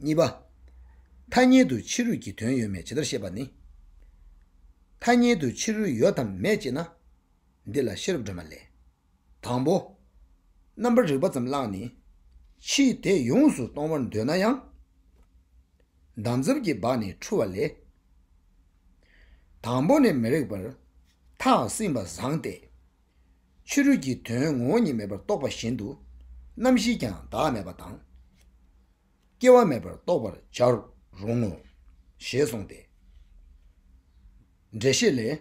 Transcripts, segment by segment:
གཉིས་པ། ཐ་སྙད་དུ་ཕྱི་རོལ་གྱི་དོན་ཡོད་མེད་ཇི་ལྟར་ཤེས་པ་ནི། ཐ་སྙད་དུ་ཕྱི་རོལ་ཡོད་དམ་མེད་ཅེ་ན། འདི་ལ་ཤེས་རབ་སྒྲོན་མ་ལས། དང་པོ། རྣམ་པར་རིག་པ་ཙམ་བླངས་ནས་ཕྱིའི་དེ་ཡོངས་སུ་གཏོང་བར་འདོད་ན་ཡང། འདམ་རྫབ་ཀྱི་སྦགས་ནས་འཁྲུ་བ་ལས། དང་པོ་ནས་མི་རིགས་པར་ཐག་བསྲིངས་པ་བཟང་སྟེ། ཕྱི་རོལ་གྱི་དོན་ངོ་བོ་ཉིད་མེད་པར་རྟོགས་པ་བཞིན་དུ། རྣམ་བཞིས་ཀྱང་བདག་མེད་པ་དང། སྐྱེ་བ་མེད་པར་རྟོགས་པར་བྱར་རུང་ངོ། ཞེས་གསུངས་ཏེ། འགྲེལ་བཤད་ལས།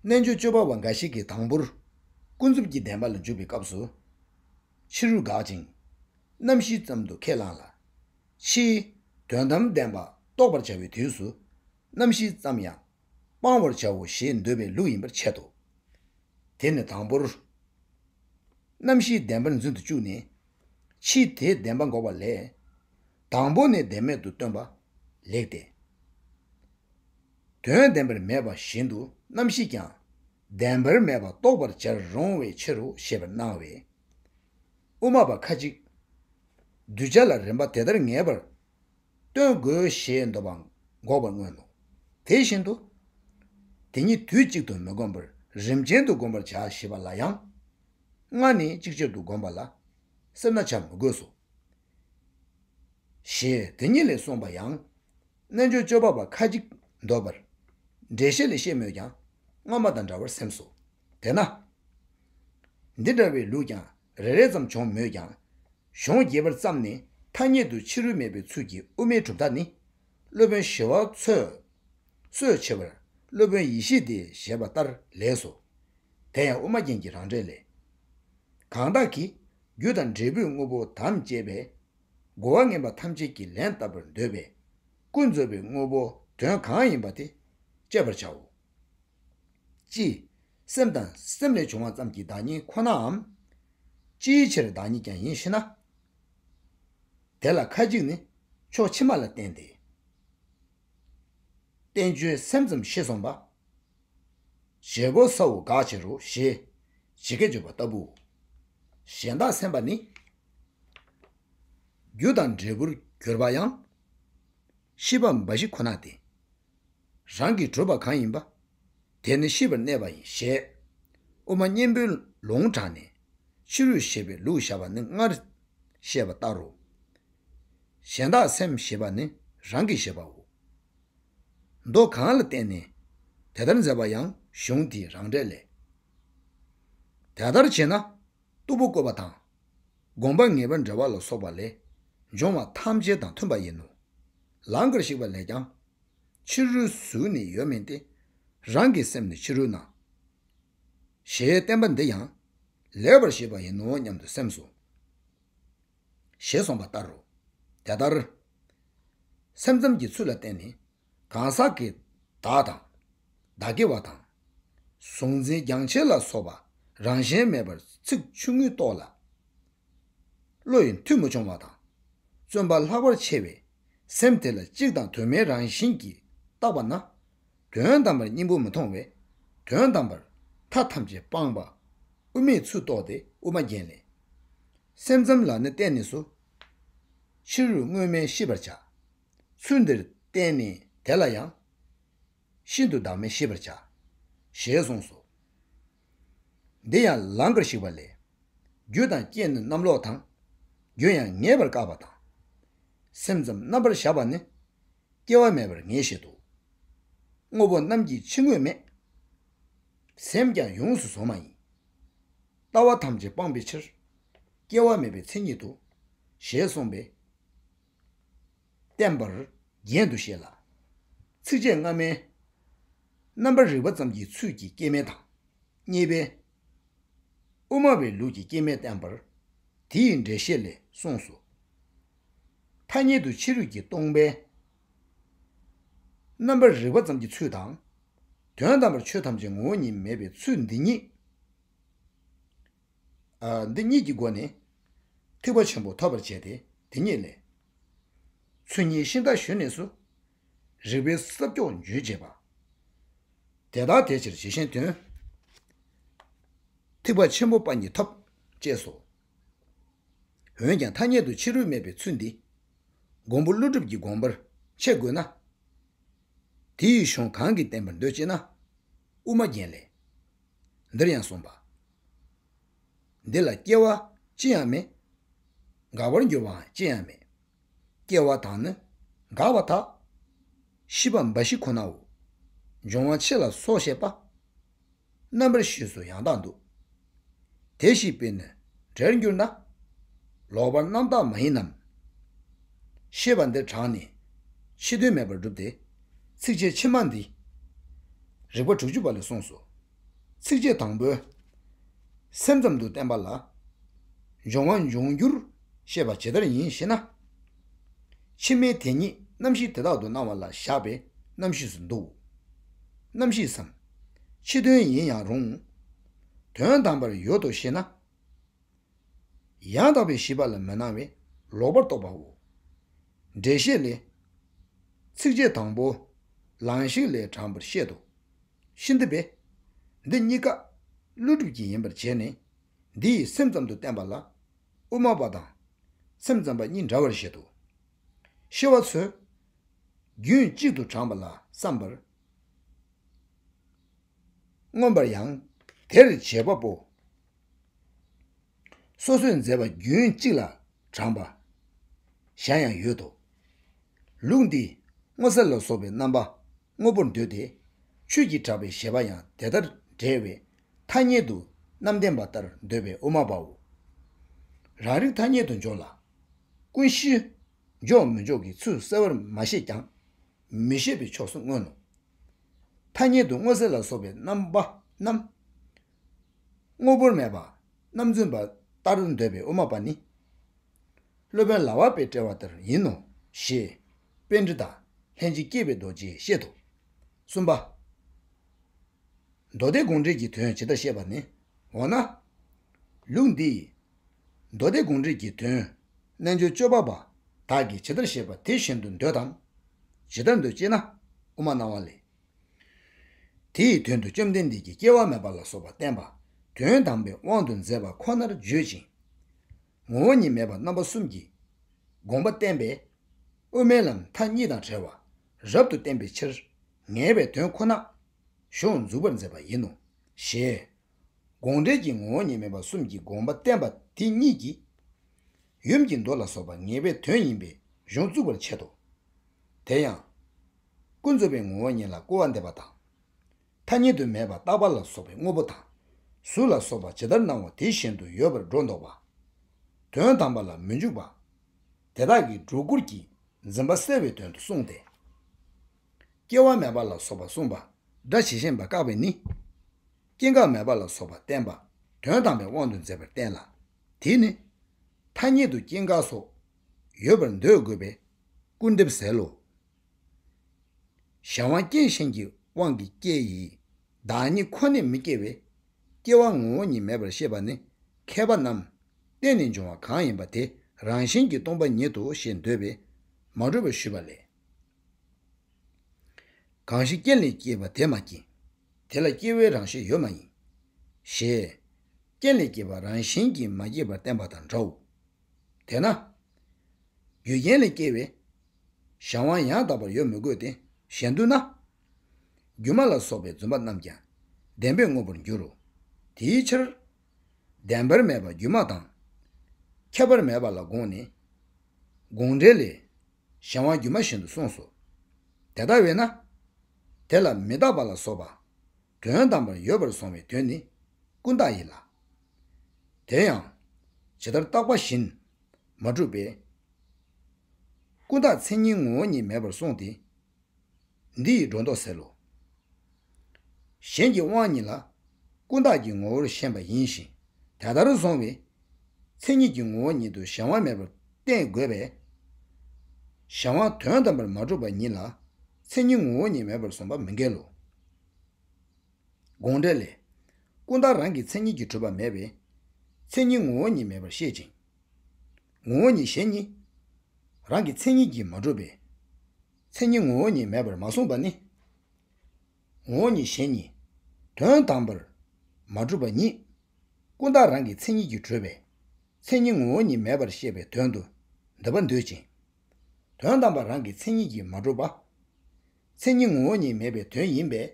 རྣལ་འབྱོར་སྤྱོད་པ་བ་འགའ་ཞིག་གིས་དང་པོར། ཀུན་རྫོབ་ཀྱི་བདེན་པ་ལ་འཇུག་པའི་སྐབས་སུ། ཕྱི་རོལ་འགག་ཅིང། རྣམ་བཞི་ཙམ་དུ་ཁས་བླངས་ལ། ཕྱིའི། དོན་དམ་བདེན་པ་རྟོགས་པར་བྱ་བའི་དུས་སུ། རྣམ་བཞི་ཙམ་ཡང་སྤང་བར་བྱའོ་ཞེས་འདོད་པའི་ལུགས་ཡིན་པར་འཆད་དོ། དེ་ནི་དང་པོར། རྣམ་བཞིའི་བདེན་པར་འཛིན་དུ་བཅུག་ནས། ཕྱིས་དེའི་བདེན་པ་འགོག་པ་ལས། དང་པོ་ནས་བདེན་མེད་དུ་སྟོན་པ་ལེགས་ཏེ། དོན་བདེན་པར་མེད་པ་བཞིན་དུ་རྣམ་བཞིས་ཀྱང། བདེན་པར་མེད་པ་རྟོགས་པར་བྱར་རུང་བའི་ཕྱིར་རོ་ཞེས་པར་སྣང་བས། དབུ་མ་པ་ཁ་ཅིག། གདུལ་བྱ་ལ་རིམ་པ་དེ་ལྟར་ངེས་པར། སྟོན་དགོས་ཞེས་འདོད་པ་འགོག་པར་མངོན་ནོ། དེ་བཞིན་དུ། དེ་ཉིད་དུས་གཅིག་ཏུ་མི་བསྒོམ་པར་རིམ་ཅན་དུ་བསྒོམ་པར་བྱ་ཞེས་པ་ལ་ཡང། སྔར་ནི་གཅིག་ཆར་དུ་བསྒོམ་པ་ལ་སེར་སྣ་བྱ་མི་དགོས་སོ། ཞེས་དེ་ཉིད་ལས་གསུངས་པ་ཡང། རྣལ་འབྱོར་སྤྱོད་པ་པ་ཁ་ཅིག་འདོད་པར་འགྲེལ་བཤད་ལས་ཤེས་མོད་ཀྱང་སྔ་མ་དང་འདྲ་བར་སེམས་སོ། དེས་ན། འདི་འདྲ་བའི་ལུགས་ཀྱང་རེ་རེ་ཙམ་བྱུང་མོད་ཀྱང། གཞུང་རྒྱས་པར་བརྩམས་ནས་ཐ་སྙད་དུ་ཕྱི་རོལ་མེད་པའི་ཚུལ་གྱིས་དབུ་མའི་གྲུབ་མཐའ་ནི། སློབ་དཔོན་ཞི་བ་འཚོས། གསོད་བྱེད་པར་སློབ་དཔོན་ཡེ་ཤེས་ཏེ་ཞེས་པ་ལྟར་ལེགས་སོ། དེ་ཡང་དབུ་མ་རྒྱན་གྱི་རང་འགྲེལ་ལས། གང་དག་གིས་རྒྱུ་དང་འབྲས་བུའི་དངོས་པོ་དམ་བཅས་པས། རྒོལ་བ་ངན་པ་ཐམས་ཅད་ཀྱིས་ལན་བཏབ་པར་འདོད་པས། ཀུན་རྫོབ་པའི་དངོས་པོ་དོན་གང་ཡིན་པ་དེ་དཔྱད་པར་བྱའོ། ཅི། སེམས་དང་སེམས་ལས་བྱུང་བ་ཙམ་གྱི་བདག་ཉིད་ཁོ་ནའམ། ཅིའི་ཕྱིར་བདག་ཉིད་ཀྱང་ཡིན་ཞེ་ན། དེ་ལ་ཁ་ཅིག་ནི་ཕྱོགས་ཕྱི་མ་ལ་བརྟེན་ཏེ། བསྟན་བཅོས་སེམས་ཙམ་ཤེས་སོང་པ། བྱེད་པོ་ས་འོག་དགག་བྱེད་རོ་ཞེས་ཇི་སྐད་བརྗོད་པ་ལྟ་བུའོ། གཞན་དག་སེམས་པ་ནི། རྒྱུ་དང་འབྲས་བུར་གྱུར་པ་ཡང། ཤེས་པ་འབའ་ཞིག་ཁོ་ན་སྟེ། རང་གིས་བགྲོད་པ་གང་ཡིན་པ། དེ་ནི་ཤི་བར་གནས་པ་ཡིན་ཞེས། དབུ་མ་གཉེན་པོའི་ལུང་དྲངས་ནས། ཕྱི་རོལ་ཞེས་པའི་ལུགས་བཞག་པ་ནི་སྔར་བཤད་པ་ལྟར་རོ། གཞན་དག་སེམས་ཞེས་པ་ནི་རང་གི་ཞེས་པའོ། མདོ་གང་ལ་བརྟེན་ནས་དེ་ལྟར་མཛད་པ་ཡང་གཞུང་དེའི་རང་འགྲེལ་ལས། དེ་ལྟར་བྱེད་ན། གཏུ་བུ་བཀོད་པ་དང། དགོངས་པ་ངེས་པར་འབྲེལ་བ་ལ་སོགས་པ་ལས། འབྱུང་བ་ཐམས་ཅད་དང་མཐུན་པ་ཡིན་ནོ། ལང་ཀར་བཤིག་པ་ལས་ཀྱང། ཕྱི་རོལ་གཟུགས་ནི་ཡོད་མིན་ཏེ། རང་གི་སེམས་ནི་ཕྱི་རོལ་སྣང། ཞེས་བསྟན་པ་འདི་ཡང། ལེགས་པར་ཤེས་པ་ཡིན་ནོ་སྙམ་དུ་སེམས་སོ། ཞེས་གསུངས་པ་ལྟར་རོ། དེ་ལྟར། སེམས་ཙམ་གྱི་ཚུལ་ལ་བརྟེན་ནས། གང་ཟག་གི་བདག་དང། བདག་གི་བ་དང། གཟུང་འཛིན་རྒྱང་ཆད་ལ་སོགས་པ་རང་གཞན་མེད་པར་ཚིག་ཆུང་ངུས་རྟོགས་ལ། བློ་ཡི་མཐུ་མི་འབྱོང་བ་དང། བརྩོན་པ་ལྷག་པར་ཆེ་བས་སེམས་དེ་ལ་གཅིག་དང་དུ་མའི་རང་བཞིན་གྱིས་བརྟགས་པ་ན། དོན་དམ་པར་སྙིང་པོ་མི་མཐོང་བས་དོན་དམ་པར་མཐའ་ཐམས་ཅད་སྤངས་པ་དབུ་མེད་ཚུལ་རྟོགས་ཏེ་དབུ་མ་རྒྱན་ལས། སེམས་ཙམ་ལ་ནི་བསྟན་ནས་སུ། ཕྱི་རོལ་དངོས་སྨྲས་ཤེས་པར་བྱ། ཚུལ་འདིར་བསྟན་ནས་དེ་ལ་ཡང། ཤིན་ཏུ་བདག་མེད་ཤེས་པར་བྱ། ཞེས་གསུངས་སོ། འདི་ཡང་ལང་ཀར་ཞིག་པ་ལས། རྒྱུ་དང་རྐྱེན་ནི་རྣམ་ལོག་དང། རྒྱུ་ཡང་ངེས་པར་བཀག་པ་དང། སེམས་ཙམ་རྣམ་པར་གཞག་པ་ནི། སྐྱེ་བ་མེད་པར་ངེས་བཞེད་དོ། དངོས་པོ་རྣམས་ཀྱི་ཕྱི་དངོས་མེད། སེམས་ཀྱང་ཡོངས་སུ་བཟུང་མ་ཡིན། ལྟ་བ་ཐམས་ཅད་སྤངས་པའི་ཕྱིར། སྐྱེ་བ་མེད་པའི་མཚན་ཉིད་དོ། ཞེས་གསུངས་པས། བརྟན་པར་རྒྱན་དུ་བཤད་ལ། ཚིགས་བཅད་སྔ་མའི། རྣམ་པར་རིག་པ་ཙམ་གྱི་ཚུལ་གྱིས་སྐྱེ་མེད་དང། གཉིས་པའི། དབུ་མ་བའི་ལུགས་ཀྱི་སྐྱེ་མེད་བསྟན་པར། དེ་ཡི་འགྲེལ་བཤད་ལས་གསུངས་སོ། ཐ་སྙད་དུ་ཕྱི་རོལ་གྱི་སྟོང་པའི། རྣམ་པར་རིག་པ་ཙམ་གྱི་ཚུལ་དང། དོན་དམ་པར་ཆོས་ཐམས་ཅད་ངོ་བོ་ཉིད་མེད་པའི་ཚུལ་འདི་ཉིད། འདི་ཉིད་ཀྱི་སྒོ་ནས། ཐེག་པ་ཆེན་པོ་ཐོབ་པར་བྱེད་དེ་དེ་ཉིད་ལས། ཚུལ་གཉིས་ཤིང་རྟ་བཞོན་གནས་སུ། རིག་པའི་ས་སྐྱོགས་འཇུ་བྱེད་པ། དེ་དག་དེ་ཕྱིར་ཇི་བཞིན་དོན། ཐེག་པ་ཆེན་པོ་པ་ཉིད་ཐོབ། ཅེས་སོ། འོན་ཀྱང་ཐ་སྙད་དུ་ཕྱི་རོལ་མེད་པའི་ཚུལ་འདི། མགོན་པོ་ཀླུ་སྒྲུབ་ཀྱི་དགོངས་པར་འཆད་དགོས་ན། དེ་ཡི་གཞུང་གང་གིས་བསྟན་པར་འདོད་ཅེ་ན། དབུ་མ་རྒྱན་ལས། འདིར་ཡང་གསུངས་པ། འདི་ལ་སྐྱེ་བ་ཅི་ཡང་མེད། འགག་པར་འགྱུར་བའང་ཅི་ཡང་མེད། སྐྱེ་བ་དང་ནི་འགག་པ་དག། ཤི་བ་འབའ་ཞིག་ཁོ་ནའོ། འབྱུང་བ་ཕྱེད་ལ་སོགས་བཤད་པ། རྣམ་པར་ཤེས་སུ་ཡང་དག་འདུག། དེ་ཤི་བས་ནི་འབྲལ་འགྱུར་ན། ལོག་པར་རྣམ་དག་མ་ཡིན་ནམ། ཤེས་པ་འདིར་དྲངས་ནས་ཕྱི་དོན་མེད་པར་བསྒྲུབས་ཏེ། ཚིགས་བཅད་ཕྱི་མ་འདིས་རིགས་པ་དྲུག་ཅུ་པ་ལས་གསུངས་སོ། ཚིགས་བཅད་དང་པོས། སེམས་ཙམ་དུ་བསྟན་པ་ལ། འབྱུང་བ་འབྱུང་འགྱུར་ཤེས་པ་ཇི་ལྟར་ཡིན་ཞེ་ན། ཕྱི་མའི་དེ་ཉིད་རྣམ་ཤེས་དེ་དག་ཏུ་སྣང་བ་ལ་བཞག་པས་རྣམ་ཤེས་སུ་འདུའོ། རྣམ་ཤེས་སམ། ཕྱི་དོན་ཡིན་ཡང་རུང། དོན་དམ་པར་ཡོད་དོ་ཞེ་ན། ཡང་དག་པའི་ཤེས་པ་ལ་མི་སྣང་བས་ལོག་པར་རྟོག་པའོ། འགྲེལ་བཤད་ལས། ཚིགས་བཅད་དང་པོ། ལང་གཤེགས་ལས་དྲངས་པར་བཤད་དོ། ཤིན་ཏུ་སྦེད། འདི་གཉིས་ཀ། ཀླུ་སྒྲུབ་ཀྱི་ཡིན་པར་བྱས་ནས། འདི་ཡིས་སེམས་ཙམ་དུ་བསྟན་པ་ལ། དབུ་མ་པ་དང། སེམས་ཙམ་པ་གཉིས་འདྲ་བར་བཞེད་དོ། ཤེས་བ་འཚོལ། རྒྱུན་གཅིག་ཏུ་དྲངས་པ་ལ་བསམ་པར། མངོན་པར་ཡང། དེར་བྱེད་པ་པོ། སོ་སོས་མཛད་པ་རྒྱུན་གཅིག་ལ་དྲངས་པ། གཞན་ཡང་ཡོད་དོ། ལུགས་འདིས་སྔོ་སེར་ལ་སོགས་པའི་རྣམ་པ། དངོས་པོར་འདོད་དེ། ཆོས་ཀྱིས་གྲགས་པའི་གཞལ་བ་ཡང་དེ་ལྟར་འབྲེལ་བས་ཐ་སྙད་དུ་རྣམ་བདེན་པ་ལྟར་འདོད་པའི་དབུ་མ་པའོ། རང་རིག་ཐ་སྙད་དུ་འཇོག་ལ། ཀུན་གཞི། འཇོག་མི་འཇོག་གི་ཚུལ་གསལ་བར་མ་བཤད་ཀྱང། མི་ཤེས་པའི་ཕྱོགས་སུ་མངོན་ནོ། ཐ་སྙད་དུ་དངོས་གསལ་ལ་སོགས་པའི་རྣམ་པ་རྣམས། དངོས་པོར་མེད་པ་རྣམ་རྫུན་པ་ལྟར་འདོད་པའི་དབུ་མ་པ་ནི། སློབ་དཔོན་ལྭ་བ་པའི་དཔྲལ་བ་ལྟར་ཡིན་ནོ། ཞེས་དཔལ་འབྲི་དང་ལྷན་ཅིག་སྐྱེས་པའི་རྡོ་རྗེས་བཤད་དོ། གསུམ་པ། མདོ་སྡེ་དགོངས་འགྲེལ་གྱི་དོན་ཇི་ལྟར་བཤད་པ་ནི། འོ་ན། ལུགས་འདིས། མདོ་སྡེ་དགོངས་འགྲེལ་གྱི་དོན། རྣལ་འབྱོར་སྤྱོད་པ་པ་དག་གིས་ཇི་ལྟར་བཤད་པ་དེ་བཞིན་དུ་འདོད་དམ། ཇི་ལྟར་འདོད་ཅེ་ན། དབུ་མ་སྣང་བ་ལས། དེ་ཡི་དོན་དུ་བཅོམ་ལྡན་འདས་ཀྱིས་སྐྱེ་བ་མེད་པ་ལ་སོགས་པ་བསྟན་པ་དོན་དམ་པའི་དབང་དུ་མཛད་པ་ཁོ་ནར་བརྗོད་ཅིང། ངོ་བོ་ཉིད་མེད་པ་རྣམ་པ་གསུམ་གྱི་དགོངས་པ་བསྟན་པས་དབུ་མའི་ལམ་མཐའ་གཉིས་དང་བྲལ་བ་རབ་ཏུ་བསྟན་པའི་ཕྱིར། ངེས་པའི་དོན་ཁོ་ནགོ་ཞུགས་འཛུགས་པར་མཛད་པ་ཡིན་ནོ། ཞེས། དགོངས་འགྲེལ་གྱི་ངོ་བོ་ཉིད་མེད་པ་གསུམ་གྱི་དགོངས་པ་བསྟན་པ་དེ་ཉིད་ཀྱིས། ཡུམ་གྱི་མདོ་ལ་སོགས་པ་ངེས་པའི་དོན་ཡིན་པས་གཞུང་བཙུགས་པར་འཆད་དོ། དེ་ཡང། ཀུན་རྫོབ་པའི་ངོ་བོ་ཉིད་ལ་སྐུར་བ་འདེབས་པ་དང། མཐའ་གཉིས་དུ་མེད་པར་རྟག་པ་ལ་སོགས་པའི་དངོས་པོ་དང། གཟུགས་ལ་སོགས་པ་ཇི་ལྟར་སྣང་བ་དེ་བཞིན་དུ་ཡོད་པར་སྒྲོ་འདོགས་པ། དོན་དམ་པ་ལ་མི་འཇུག་པ། དེ་དག་གིས་སྒྲོ་སྐུར་གྱིས་འཛིན་པ་སེལ་བའི་དོན་དུ་གསུངས་ཏེ། སྐྱེ་བ་མེད་པ་ལ་སོགས་པ་གསུངས་པ། སྒྲ་ཇི་བཞིན་པ་བཀག་པས་ནི། སྐྱེ་འགག་མེད་པ་ལ་སོགས་པ་བསྟན་པ། དོན་དམ་པའི་དབང་དུ་མཛད་པར་བསྟན་ལ། དེས་ནི། ཐ་སྙད་དུ་སྐྱེ་འགག་སོགས། ཡོད་པར་འདོད་དགོས་པས། སྐུར་འདེབས་ཟེར་ལོ། གཞན་དབང་རྐྱེན་གཞན་གྱི་དབང་གིས་སྐྱེ་ཡི། བདག་ཉིད་ཁོ་ནས་མི་སྐྱེ་བས། སྐྱེ་བ་ངོ་བོ་ཉིད་མེད་པར་ཤེས་པ་ནི་མཁས་པ་རྣམས། རྟེན་ནས་འབྱུང་བ་གང་ཡིན་པ་དེ་རང་བཞིན་གྱིས་སྟོང་པ་ཉིད་དོ་ཞེས་འདོད་པས་མ་གྲུབ་པར་ཞུས་པ་ལས། གང་ཞིག་རྐྱེན་ལས་སྐྱེས་པ་དེ་མ་སྐྱེས། དེ་ལ་སྐྱེ་བོའི་རང་བཞིན་ཡོད་མ་ཡིན། ཞེས། རྐྱེན་ལས་སྐྱེས་པ་རང་བཞིན་གྱིས་མ་སྐྱེས་པར་བསྟན་པ་དང་འདྲའོ། དེས་ན། རྒྱུ་རྐྱེན་ལས་སྐྱེས་བས། གཞན་དབང་ཡང་དག་པར་ཡོད་མི་དགོས་ཏེ་གཞན་བསྡུ་ན། སྒྱུ་མ་ལ་སོགས་པའི་བརྫུན་པ་རྣམས་ཀྱང་བདེན་པའི་དངོས་པོར་འགྱུར་རོ། དེའི་ཕྱིར། བདེན་པར་མེད་པ་སྒྱུ་མ་དང། ཁྱབ་པར་མེད་པ་ལ་དགོངས་ནས། དགོངས་འགྲེལ་ལས། གཞན་དབང་སྒྱུ་མ་བཞིན་དུ་གསུངས་སོ། དེ་ལྟ་བས་ན། དེ་ལ་མི་རྟག་པ་ལ་སོགས་པ། དོན་དམ་པར་ཡོད་པར་སོང་བའི་དོན་ནི་ཀུན་བཏགས་ཡིན་ལ། དེ་ཡང། ཇི་ལྟར་བཏགས་པ་བཞིན་མ་གྲུབ་པས། ཀུན་བརྟགས་མཚན་ཉིད་ངོ་བོ་ཉིད་མེད་པར་གསུངས་ཏེ། འདི་ཡིས་སྒྲོ་འདོགས་སེལ་ལོ། གཞན་གྱི་དབང་ཉིད་ལ། ཀུན་བརྟགས་ཀྱི་ངོ་བོར་ཤེས་པ་ཡིན་ཞིང་དེ་ལྟར་བཟུང་བས། མཚན་ཉིད་ཀྱི་ངོ་བོ་ཉིད་དུ་གཞན་དབང་མེད་པར་བསྟན་དགོས་པས། གཞན་དབང་དོན་དམ་པར་མ་གྲུབ་པ་ཉིད་ལ་མཚན་ཉིད་ངོ་བོ་ཉིད་མེད་པར་བཟུང་བ་མི་འགལ་ལོ། དགོངས་འགྲེལ་ལས། ཀུན་བརྟགས་རང་གི་མཚན་ཉིད་ཀྱིས་གྲུབ་པ་མེད་པས། མཚན་ཉིད་ངོ་བོ་ཉིད་མེད་པར་བཤད་ཅིང། ངོ་བོ་ཉིད་གཞན་གཉིས། རང་གི་མཚན་ཉིད་ཀྱིས་མ་གྲུབ་པས། མཚན་ཉིད་ངོ་བོ་ཉིད་མེད་པར་མ་གསུངས་པ་ནི། ངོ་བོ་ཉིད་གཞན་གཉིས། དོན་དམ་པར་མ་གྲུབ་པ་ཉིད། ཀུན་བརྟགས་རང་གི་མཚན་ཉིད་ཀྱིས་གྲུབ་པས། མཚན་ཉིད་ངོ་བོ་ཉིད་མེད་པར་བཤད་པའི་དོན་དུ་འདོད་པ་འདོད་ཅིང། དོན་དམ་པར་རང་གི་མཚན་ཉིད་ཀྱིས་མ་གྲུབ་པ། མཚན་ཉིད་ངོ་བོ་ཉིད་མེད་པའི་དོན་ཡིན་པས།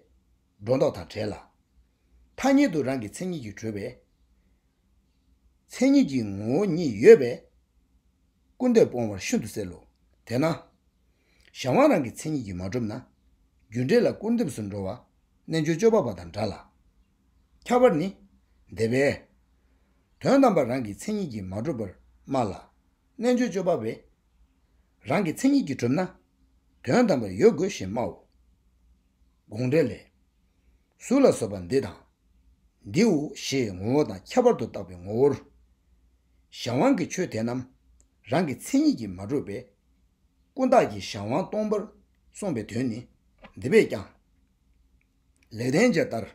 སྒྲོ་འདོགས་དང་བྲལ་ལ། ཐ་སྙད་དུ་རང་གི་མཚན་ཉིད་ཀྱིས་གྲོལ་བས། མཚན་ཉིད་ཀྱི་ངོ་བོ་ཉིད་ཡོད་པས། ཀུན་འདས་སྤོང་བར་ཤིན་ཏུ་གསལ་ལོ། དེས་ན། གཞན་དབང་རང་གི་མཚན་ཉིད་ཀྱིས་མ་གྲུབ་ན། རྒྱུ་འབྲས་ལ་སྐུར་འདེབས་སུ་འགྲོ་བ། རྣལ་འབྱོར་སྤྱོད་པ་པ་དང་འདྲ་ལ། ཁྱབ་པར་ནི། འདས་པའི། དོན་དམ་པར་རང་གི་མཚན་ཉིད་ཀྱིས་མ་གྲུབ་པར་སྨྲ་ལ། རྣལ་འབྱོར་སྤྱོད་པ་བས། རང་གི་མཚན་ཉིད་ཀྱིས་གྲུབ་ན། དོན་དམ་པར་ཡོད་དགོས་ཞེས་སྨྲའོ། དགོངས་འགྲེལ་ལས། གཟུགས་ལ་སོགས་པ་འདི་དང། འདིའོ་ཞེས་ངོ་བོ་དང་ཁྱད་པར་དུ་བཏགས་པའི་ངོ་བོར། གཞན་དབང་གི་ཆོས་དེ་རྣམས་རང་གི་མཚན་ཉིད་ཀྱིས་མ་གྲུབ་པས། ཀུན་བརྟགས་ཀྱི་གཞན་དབང་སྟོང་པར་གསུངས་པའི་དོན་ནི་འདི་བས་ཀྱང། ལེགས་ལྡན་འབྱེད་ལྟར།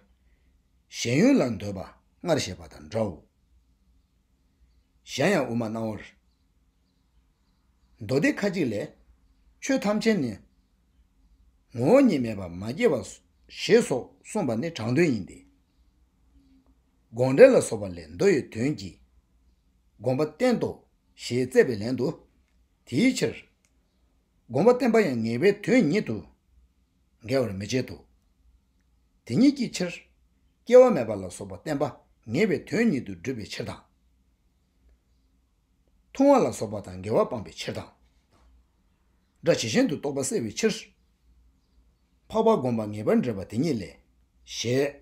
གཞན་ཡུལ་ལ་འདོད་པ་སྔར་བཤད་པ་དང་འདྲའོ། གཞན་ཡང་དབུ་མ་སྣང་བར་མདོ་སྡེ་ཁ་ཅིག་ལས། ཆོས་ཐམས་ཅད་ནི། ངོ་བོ་ཉིད་མེད་པར་མ་སྐྱེས་པ། ཞེས་སོགས་གསུངས་པ་ནི་དྲང་དོན་ཡིན་ཏེ། དགོངས་འགྲེལ་ལ་སོགས་པ་ལས་མདོ་ཡི་དོན་གྱིས་དགོངས་པ་བསྟན་ཏོ་ཞེས་བརྩད་པའི་ལན་དུ། དེའི་ཕྱིར། དགོངས་པ་བསྟན་པ་ཡང་ངེས་པའི་དོན་ཉིད་དུ་འགལ་བར་མི་བྱེད་དོ། དེ་ཉིད་ཀྱི་ཕྱིར། སྐྱེ་བ་མེད་པ་ལ་སོགས་པ་བསྟན་པ་ངེས་པའི་དོན་ཉིད་དུ་བསྒྲུབ་པའི་ཕྱིར་དང། མཐོང་བ་ལ་སོགས་པ་དང་འགལ་བ་སྤངས་པའི་ཕྱིར་དང། སྒྲ་ཇི་བཞིན་དུ་རྟོགས་པ་བསལ་བའི་ཕྱིར། འཕགས་པ་བསྒོམ་པ་ངེས་པར་འབྲེལ་བ་དེ་ཉིད་ལས། ཞེས།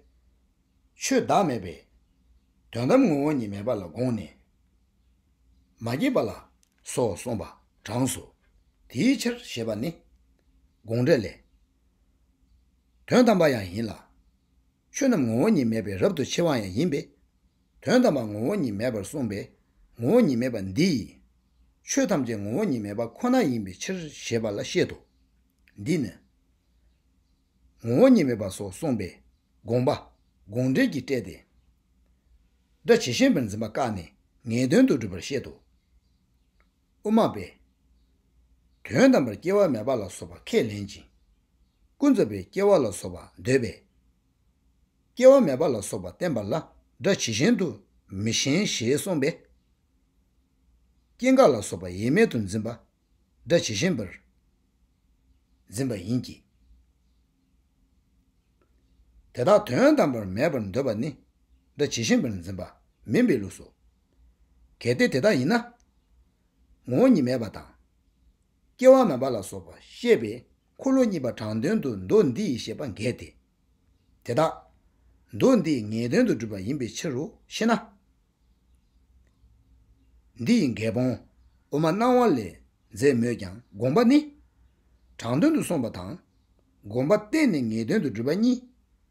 ཆོས་བདག་མེད་པས། དོན་དམ་ངོ་བོ་ཉིད་མེད་པ་ལ་དགོངས་ནས། མ་སྐྱེས་པ་ལ། སོགས་གསུངས་པ་གྲངས་སོ། དེའི་ཕྱིར་ཞེས་པ་ནི། དགོངས་འགྲེལ་ལས། དོན་དམ་པ་ཡང་ཡིན་ལ། ཆོས་རྣམས་ངོ་བོ་ཉིད་མེད་པས་རབ་ཏུ་ཕྱེ་བ་ཡང་ཡིན་པས། དོན་དམ་པར་ངོ་བོ་ཉིད་མེད་པར་གསུངས་པས་ངོ་བོ་ཉིད་མེད་པ་འདི་ཡིན། ཆོས་ཐམས་ཅད་ངོ་བོ་ཉིད་མེད་པ་ཁོ་ན་ཡིན་པའི་ཕྱིར་ཞེས་པ་ལ་བཤད་དོ། འདིས་ནི། ངོ་བོ་ཉིད་མེད་པ་སོགས་གསུངས་པས་དགོངས་པ་དགོངས་འགྲེལ་གྱིས་བཀྲལ་ཏེ། སྒྲ་ཇི་བཞིན་པར་འཛིན་པ་བཀག་ནས་ངེས་དོན་དུ་སྒྲུབ་པར་བཤད་དོ། དབུ་མ་པས། དོན་དམ་པར་སྐྱེ་བ་མེད་པ་ལ་སོགས་པ་ཁས་ལེན་ཅིང། ཀུན་རྫོབ་པས་སྐྱེ་བ་ལ་སོགས་པ་འདོད་པས། སྐྱེ་བ་མེད་པ་ལ་སོགས་པ་བསྟན་པ་ལ་སྒྲ་ཇི་བཞིན་དུ་མི་ཞེན་ཞེས་གསུངས་པས། སྐྱེ་འགག་ལ་སོགས་པ་ཡེངས་མེད་དུ་འཛིན་པ་སྒྲ་ཇི་བཞིན་པར་འཛིན་པ་ཡིན་གྱི། དེ་དག་དོན་དམ་པར་མེད་པར་འདོད་པ་ནི་སྒྲ་ཇི་བཞིན་པར་འཛིན་པ་མིན་པའི་ལུགས་སོ། གལ་ཏེ་དེ་ལྟ་ཡིན་ན། ངོ་བོ་ཉིད་མེད་པ་དང། སྐྱེ་བ་མེད་པ་ལ་སོགས་པ་བཤད་པའི་འཁོར་ལོ་གཉིས་པ་དྲང་དོན་དུ་མདོ་འདི་ཡིས་བཤད་པ་འགལ་ཏེ། དེ་དག། མདོ་འདིས་ངེས་དོན་དུ་བསྒྲུབ་པ་ཡིན་པའི་ཕྱིར་རོ་ཞེ་ན། འདི་ཡི་འགལ་སྤོང་དབུ་མ་སྣང་བ་ལས་མཛད་མོད་ཀྱང་དགོངས་པ་ནི། དྲང་དོན་དུ་སོང་བ་དང། དགོངས་པ་གཏན་ནས་ངེས་དོན་དུ་བསྒྲུབ་པ་གཉིས་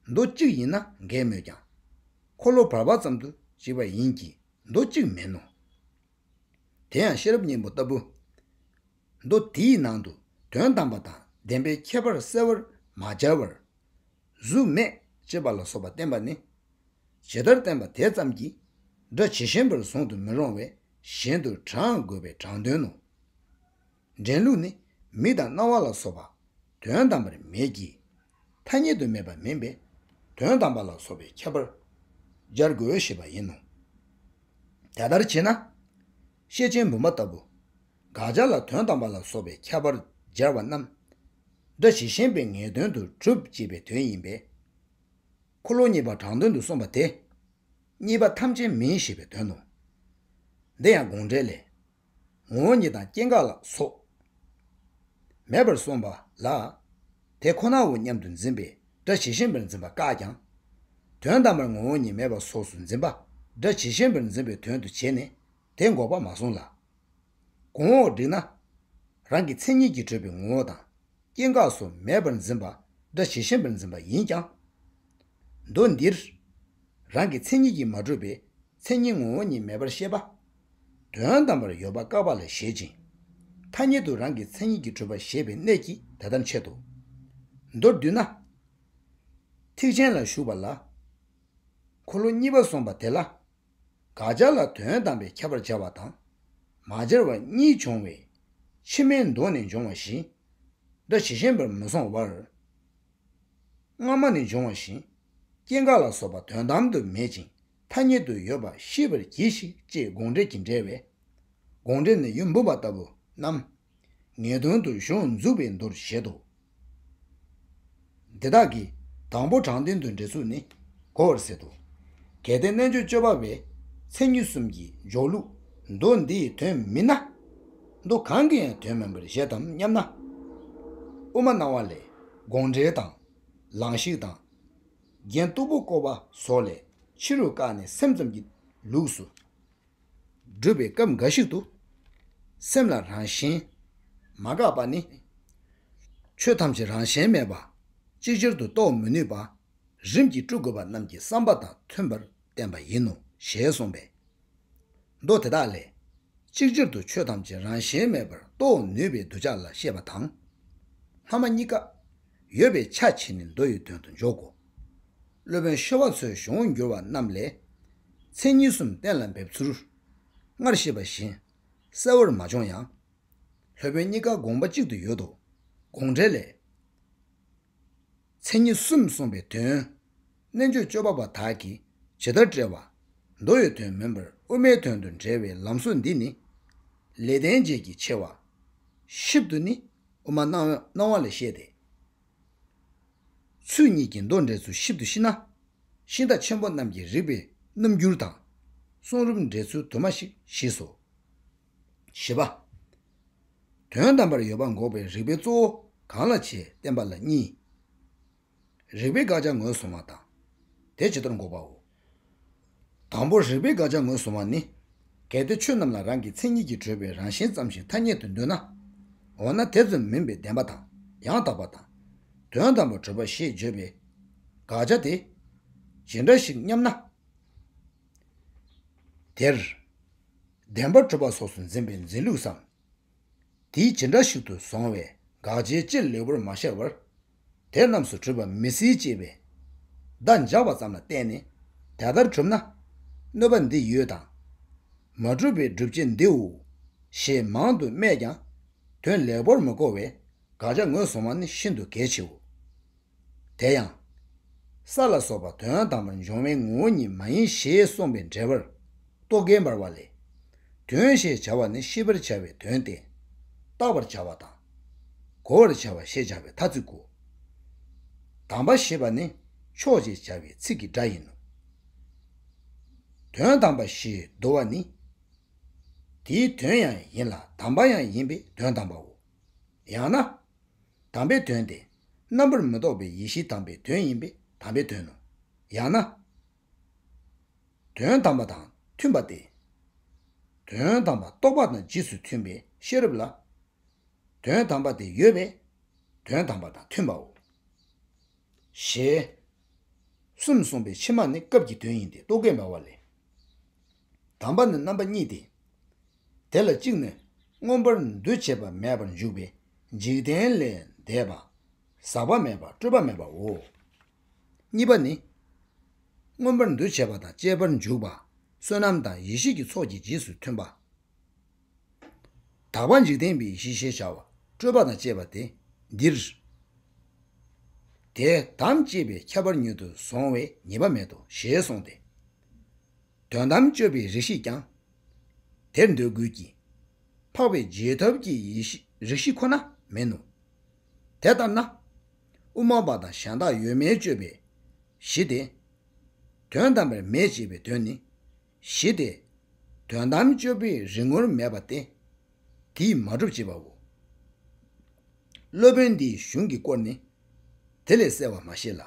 མདོ་གཅིག་ཡིན་ན་འགལ་མོད་ཀྱང། འཁོར་ལོ་བར་བར་ཙམ་དུ་གཅིག་པ་ཡིན་གྱི་མདོ་གཅིག་མིན་ནོ། དེ་ཡང་ཤེས་རབ་སྙིང་པོ་ལྟ་བུ། མདོ་དེའི་ནང་དུ་དོན་དམ་པ་དང་བདེན་པའི་ཁྱད་པར་གསལ་བར་མ་སྦྱར་བར། གཟུགས་མེད་ཅེས་པ་ལ་སོགས་པ་བསྟན་པ་ནི། ཇི་ལྟར་བསྟན་པ་དེ་ཙམ་གྱིས་སྒྲ་ཇི་བཞིན་པར་བཟུང་དུ་མི་རུང་བས་གཞན་དུ་དྲངས་དགོས་པའི་དྲང་དོན་ནོ། འདྲེན་ལུགས་ནི་མིག་དང་རྣ་བ་ལ་སོགས་པ་དོན་དམ་པར་མེད་ཀྱི། ཐ་སྙད་དུ་མེད་པ་མིན་པས་དོན་དམ་པ་ལ་སོགས་པའི་ཁྱད་པར་སྦྱར་དགོས་ཞེས་པ་ཡིན་ནོ། དེ་ལྟར་བྱེད་ན། ཤེས་ཆེན་བུམ་པ་ལྟ་བུ། དགག་བྱ་ལ་དོན་དམ་པ་ལ་སོགས་པའི་ཁྱད་པར་སྦྱར་བ་རྣམས། སྒྲ་ཇི་བཞིན་པའི་ངེས་དོན་དུ་གྲུབ་ཅེས་པའི་དོན་ཡིན་པས། འཁོར་ལོ་གཉིས་པ་དྲང་དོན་དུ་གསུངས་པ་དེ། གཉིས་པ་ཐམས་ཅད་མིན་ཞེས་པའི་དོན་ནོ། འདི་ཡང་དགོངས་འགྲེལ་ལས། ངོ་བོ་ཉིད་དང་སྐྱེ་འགག་ལ་སོགས། མེད་པར་གསུངས་པ་ལ། དེ་ཁོ་ནའོ་སྙམ་དུ་འཛིན་པས་སྒྲ་ཇི་བཞིན་པར་འཛིན་པ་བཀག་ཀྱང། དོན་དམ་པར་ངོ་བོ་ཉིད་མེད་པ་སོགས་སུ་འཛིན་པ་སྒྲ་ཇི་བཞིན་པར་འཛིན་པའི་དོན་དུ་བྱས་ནས་དེ་འགོག་པ་མ་གསུངས་ལ། གོང་འོག་བསྒྲིགས་ན། རང་གི་མཚན་ཉིད་ཀྱིས་གྲོལ་བའི་ངོ་བོ་དང། སྐྱེ་འགག་སོགས་མེད་པར་འཛིན་པ་སྒྲ་ཇི་བཞིན་པར་འཛིན་པ་ཡིན་ཀྱང། མདོ་འདིར། རང་གི་མཚན་ཉིད་ཀྱིས་མ་གྲོལ་བའི་མཚན་ཉིད་ངོ་བོ་ཉིད་མེད་པར་བཤད་པ། དོན་དམ་པར་ཡོད་པ་བཀག་པ་ལ་བཞེད་ཅིང། ཐ་སྙད་དུ་རང་གི་མཚན་ཉིད་ཀྱིས་གྲོལ་བ་ཞེས་པའི་གནད་ཀྱིས་དེ་ལྟར་འཆད་དོ། མདོར་བསྡུས་ན། ཐེག་ཆེན་ལ་ཞུགས་པ་ལ། འཁོར་ལོ་གཉིས་པ་སོང་པ་དེ་ལ་དགག་བྱ་ལ་དོན་དམ་པའི་ཁྱབ་པར་སྦྱར་བ་དང། མ་སྦྱར་བ་གཉིས་འབྱུང་བས། ཕྱི་མའི་མདོ་ནས་འབྱུང་བ་བཞིན། འདུ་བྱེད་ཞེན་པར་མི་སོང་བར། སྔ་མ་ནས་འབྱུང་བ་བཞིན། སྐྱེ་འགག་ལ་སོགས་པ་དོན་དམ་དུ་མེད་ཅིང་ཐ་སྙད་དུ་ཡོད་པ་ཤེས་པར་གྱིས་ཤིག་ཅེས་དགོངས་འགྲེལ་གྱིས་འགྲེལ་བས། དགོངས་འགྲེལ་ནི་ཡུམ་བུ་བ་ལྟ་བུ་རྣམས། ངེས་དོན་དུ་གཞུང་འཛུགས་པའི་མདོར་བཞེད་དོ། འདི་དག་གི་དང་པོ་དྲང་བདེན་དུ་འདྲེ་ཚུགས་ནི་གོ་བར་ཟད་དོ། གལ་ཏེ་རྣལ་འབྱོར་སྤྱོད་པ་བས་མཚན་ཉིད་གསུམ་གྱི་འཇོག་ལུགས་མདོ་འདིའི་དོན་མིན་ན། མདོ་གང་གི་ཡང་དོན་མིན་པར་བཞེད་དམ་སྙམ་ན། དབུ་མ་སྣང་བ་ལས་དགོངས་འགྲེལ་དང། ལང་གཤེགས་དང། རྒྱན་སྟུག་པོ་བསྐོར་བ་སོགས་ལས་ཕྱི་རུ་བཀག་ནས་སེམས་ཙམ་གྱི་ལུགས་སུ། བསྒྲུབ་པའི་སྐབས་འགའ་ཞིག་ཏུ། སེམས་ལ་རང་བཞིན་མ་འགགས་པ་ནི། ཆོས་ཐམས་ཅད་རང་གཞན་མེད་པ་ཅིག་ཅར་དུ་རྟོགས་མི་ནུས་པ་རིམ་གྱིས་སྤྲུལ་དགོས་པ་རྣམས་ཀྱི་བསམ་པ་དང་མཐུན་པར་བསྟན་པ་ཡིན་ནོ་ཞེས་གསུངས་པས། མདོ་དེ་དག་ལས། གཅིག་ཅར་དུ་ཆོས་ཐམས་ཅད་རང་གཞན་མེད་པར་རྟོགས་ནུས་པའི་གདུལ་བྱ་ལ་བཤད་པ་དང། སྔ་མ་གཉིས་ཀ། ཡོད་པའི་ཆ་བྱས་ནས་མདོ་ཡི་དོན་དུ་འཇོག་གོ། སློབ་དཔོན་ཤོ་བ་ཚོའི་གཞུང་དབང་བསྒྱུར་བ་རྣམས་ལས། མཚན་ཉིད་གསུམ་གཏན་ལ་འབེབས་ཚུལ། སྔར་བཤད་པ་བཞིན་གསལ་བོར་མ་བྱུང་ཡང། སློབ་དཔོན་གཉིས་ཀ་དགོངས་པ་གཅིག་ཏུ་ཡོད་དོ། དགོངས་འགྲེལ་ལས། མཚན་ཉིད་གསུམ་གསུངས་པའི་དོན། རྣལ་འབྱོར་སྤྱོད་པ་པ་དག་གིས་ཇི་ལྟར་བཀྲལ་བ། མདོ་ཡི་དོན་མིན་པར་དབུ་མའི་དོན་དུ་འགྲེལ་བའི་ལམ་སྲོལ་འདི་ནི། ལས་བསྟན་བྱེད་ཀྱི་ཆེ་བ། ཞིབ་ཏུ་ནི་དབུ་མ་སྣང་བ་ལས་བཤད་དེ། ཚུལ་གཉིས་ཀྱི་མདོ་འགྲེལ་ཚུལ་ཞིབ་ཏུ་ཤེས་ན། ཤིང་རྟ་ཆེན་པོ་རྣམས་ཀྱི་རིགས་པའི་རྣམ་འགྱུར་དང། གསུང་རབ་འགྲེལ་ཚུལ་དུ་མ་ཞིག་ཤེས་སོ། བཞི་པ། དོན་དམ་པར་ཡོད་པ་འགོག་པའི་རིགས་པའི་གཙོ་བོ་གང་ལ་བྱའི་བསྟན་པ་ལ་གཉིས། རིགས་པའི་དགག་བྱ་ངོས་བཟུང་བ་དང། དེ་ཇི་ལྟར་འགོག་པའོ། དང་པོར་རིགས་པའི་དགག་བྱ་ངོས་བཟུང་བ་ནི། གལ་ཏེ་ཆོས་རྣམས་ལ་རང་གི་མཚན་ཉིད་ཀྱིས་གྲོལ་བའི་རང་བཞིན་ཙམ་ཞིག་ཐ་སྙད་དུ་འདོད་ན། འོ་ན་དེ་ཙམ་མིན་པའི་བདེན་པ་དང་ཡང་དག་པ་དང། དོན་དམ་པར་གྲོལ་བ་ཞེས་བརྗོད་པའི་དགག་བྱ་དེ་ཇི་འདྲ་ཞིག་སྙམ་ན། དེར་བདེན་པར་གྲོལ་བ་སོགས་སུ་འཛིན་པའི་འཛིན་ལུགས་སམ། དེ་ཇི་འདྲ་ཞིག་ཏུ་བཟུང་བའི་དགག་བྱའི་སྤྱིར་ལེའུ་པར་མ་བཤད་བར། དེ་རྣམས་སུ་གྲུབ་པ་མི་སྲིད་ཅེས་པའི་བརྡ་འཇགས་པ་ཙམ་ལ་བརྟེན་ནས་དེ་ལྟར་གྲུབ་ན། གནོད་པ་འདི་ཡོད་དང། མ་གྲུབ་པའི་སྒྲུབ་བྱེད་འདིའོ། ཞེས་མང་དུ་སྨྲས་ཀྱང་དོན་ལེགས་པོར་མི་གོ་བས་དགག་བྱ་ངོས་བཟུང་བ་ནི་ཤིན་ཏུ་གལ་ཆེའོ། དེ་ཡང། ས་ལ་སོགས་པ་དོན་དམ་པར་འབྱུང་བའི་ངོ་བོ་ཉིད་མ་ཡིན་ཞེས་གསུངས་པའི་འགྲེལ་པར་རྟོག་གེ་འབར་བ་ལས། དོན་ཞེས་བྱ་བ་ནི་ཤེས་པར་བྱ་བའི་དོན་ཏེ། བརྟག་པར་བྱ་བ་དང། བསྒོ་བར་བྱ་བ་ཞེས་བྱ་བའི་ཐ་ཚིག་གོ། དམ་པ་ཞེས་པ་ནི་མཆོག་ཅེས་བྱ་བའི་ཚིག་གི་སྒྲ་ཡིན་ནོ། དོན་དམ་པ་ཞེས་བསྡུ་བ་ནི། དེའི་དོན་ཡང་ཡིན་ལ་དམ་པ་ཡང་ཡིན་པས་དོན་དམ་པའོ། ཡང་ན། དམ་པའི་དོན་ཏེ་རྣམ་པར་མི་རྟོག་པའི་ཡེ་ཤེས་དམ་པའི་དོན་ཡིན་པས་དམ་པའི་དོན་ནོ། ཡང་ན། དོན་དམ་པ་དང་མཐུན་པ་སྟེ། དོན་དམ་པ་རྟོགས་པ་དང་རྗེས་སུ་མཐུན་པའི་ཤེས་རབ་ལ་དོན་དམ་པ་དེ་ཡོད་པས་དོན་དམ་པ་དང་མཐུན་པའོ། ཞེས་གསུམ་གསུངས་པའི་ཕྱི་མ་ནི་སྐབས་ཀྱི་དོན་ཡིན་ཏེ་རྟོག་གེ་འབའ་བ་ལས། དམ་པ་ནི་རྣམ་པ་གཉིས་ཏེ། དེ་ལ་གཅིག་ནི་མངོན་པར་འདུ་བྱེད་པ་མེད་པར་འཇུག་པའི་འཇིག་རྟེན་ལས་འདས་པ་ཟག་པ་མེད་པ་སྤྲོས་པ་མེད་པའོ། གཉིས་པ་ནི། མངོན་པར་འདུ་བྱེད་པ་དང་བཅས་པར་འཇུག་པ་བསོད་ནམས་དང་ཡེ་ཤེས་ཀྱི་ཚོགས་ཀྱི་རྗེས་སུ་མཐུན་པ། དག་པ་འཇིག་རྟེན་པའི་གཞི་ཞེས་བྱ་བ་སྤྲོས་པ་དང་བཅས་པ་སྟེ་འདིར། དེ་དམ་བཅས་པའི་ཁྱད་པར་མྱུར་དུ་གཟུང་བའི་ཉེས་པ་མེད་དོ་ཞེས་གསུངས་ཏེ། དོན་དམ་དཔྱོད་པའི་རིགས་ཤེས་ཀྱང་དེར་འདོད་དགོས་ཀྱི། འཕགས་པའི་རྗེས་ཐོབ་ཀྱི་རིགས་ཤེས་ཁོ་ན་མིན་ནོ། དེ་ལྟར་ན། དབུ་མ་པ་དང་གཞན་དག་ཡོད་མེད་དཔྱོད་པའི་གཞི་སྟེ། དོན་དམ་པར་མེད་ཅེས་པའི་དོན་ནི་བཞི་སྟེ། དོན་དམ་དཔྱོད་པའི་རིགས་ངོར་མེད་པ་སྟེ། དེས་མ་གྲུབ་ཅེས་པའོ། སློབ་དཔོན་འདིའི་གཞུང་གི་སྐོར་ནི། དེ་ལས་གསལ་བར་མ་བཤད་ལ།